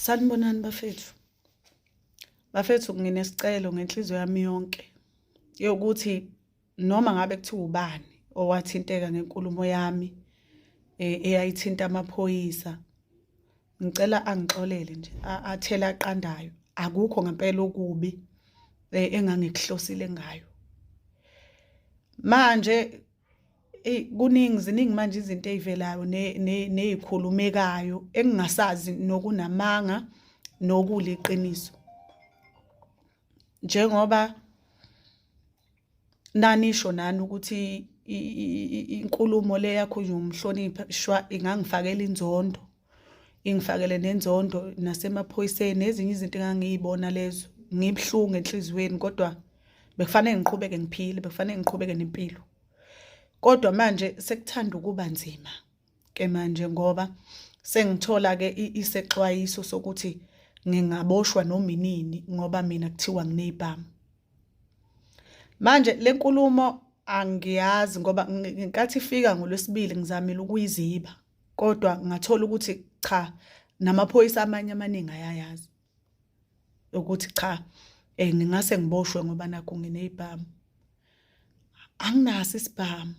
Sanibonani bafethu. Bafethu nginesicelo ngenhliziyo yami yonke yokuthi noma ngabe kuthiwa ubani owathinteka ngenkulumo yami eh, eyayithinta amaphoyisa ngicela angixolele nje athela aqandayo akukho ngempela okubi eh, engangikuhlosile ngayo manje eyi kuningi ziningi manje izinto ey'velayo ney'khulumekayo engingasazi nokunamanga nokuliqiniso njengoba nanisho nani ukuthi inkulumo le yakhulunywa umhlonipha shwa ingangifakela inzondo ingifakele nenzondo nasemaphoyiseni nezinye izinto engangiyibona lezo ngibuhlungu enhliziyweni kodwa bekufanele ngiqhubeke ngiphile bekufanele ngiqhubeke nempilo kodwa manje sekuthanda ukuba nzima ke manje ngoba sengithola ke isexwayiso sokuthi ngingaboshwa noma inini ngoba mina kuthiwa nginezibhamu manje lenkulumo angiyazi ngoba ngenkathi ifika ngolwesibili ngizamile ukuyiziba kodwa ngathola ukuthi cha namaphoyisa amanye amaningi ayayazi ukuthi cha eh ngingase ngiboshwe ngoba nakho nginezibhamu anginaso isibhamu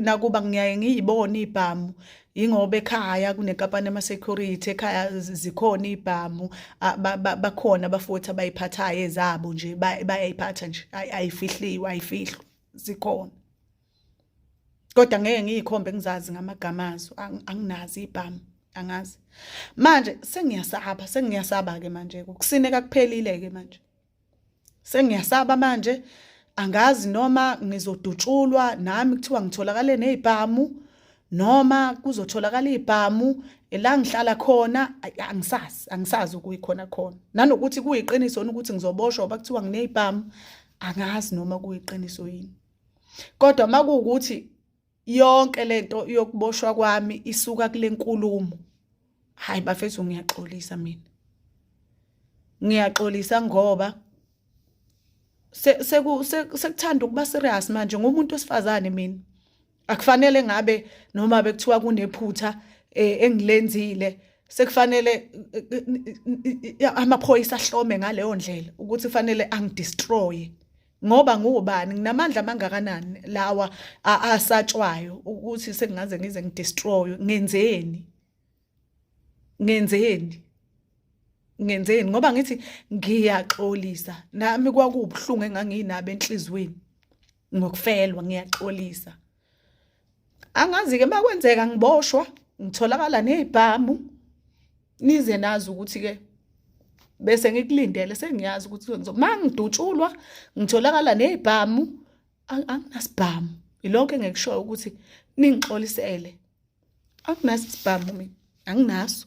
nakuba ngiyaye ngiyibone ibhamu yingoba ekhaya kunenkampani ama-security ekhaya zikhona ibhamu bakhona abafuthi abayiphathayo ezabo nje bayayiphatha nje ayifihliwe ayifihlwa zikhona kodwa ngeke ngiyikhombe ngizazi ngamagama azo anginazi ibhamu angazi manje sengiyasaba sengiyasaba ke manje ukusineka kuphelile ke manje sengiyasaba manje angazi noma ngizodutshulwa nami kuthiwa ngitholakale nezibhamu noma kuzotholakala izibhamu la ngihlala khona angisazi angisazi ukuyikhona khona nanokuthi kuyiqiniso ukuthi ngizoboshwa bakuthiwa nginezibhamu angazi noma kuyiqiniso yini kodwa uma kuwukuthi yonke le nto yokuboshwa kwami isuka kule nkulumo hhayi bafethu ngiyaxolisa mina ngiyaxolisa ngoba sekuthanda ukuba serious manje ngumuntu wesifazane mina akufanele ngabe noma bekuthiwa kunephutha eh, engilenzile sekufanele eh, eh, amaphoyisa ahlome ngaleyo ndlela ukuthi kufanele angidestroye ngoba ngubani nginamandla amangakanani lawa asatshwayo ukuthi sengaze ngize ngidestroy ngenzeni ngenzeni ngenzeni ngoba ngithi ngiyaxolisa nami kwakubuhlungu enganginabo enhlizweni ngokufelwa ngiyaxolisa angazi-ke uma kwenzeka ngiboshwa ngitholakala nezibhamu nize nazi ukuthi-ke bese ngikulindele sengiyazi ukuthi kwenziwa uma ngidutshulwa ngitholakala nezibhamu anginasibhamu yilokho engikushoyo ukuthi ningixolisele anginaso isibhamu mina anginaso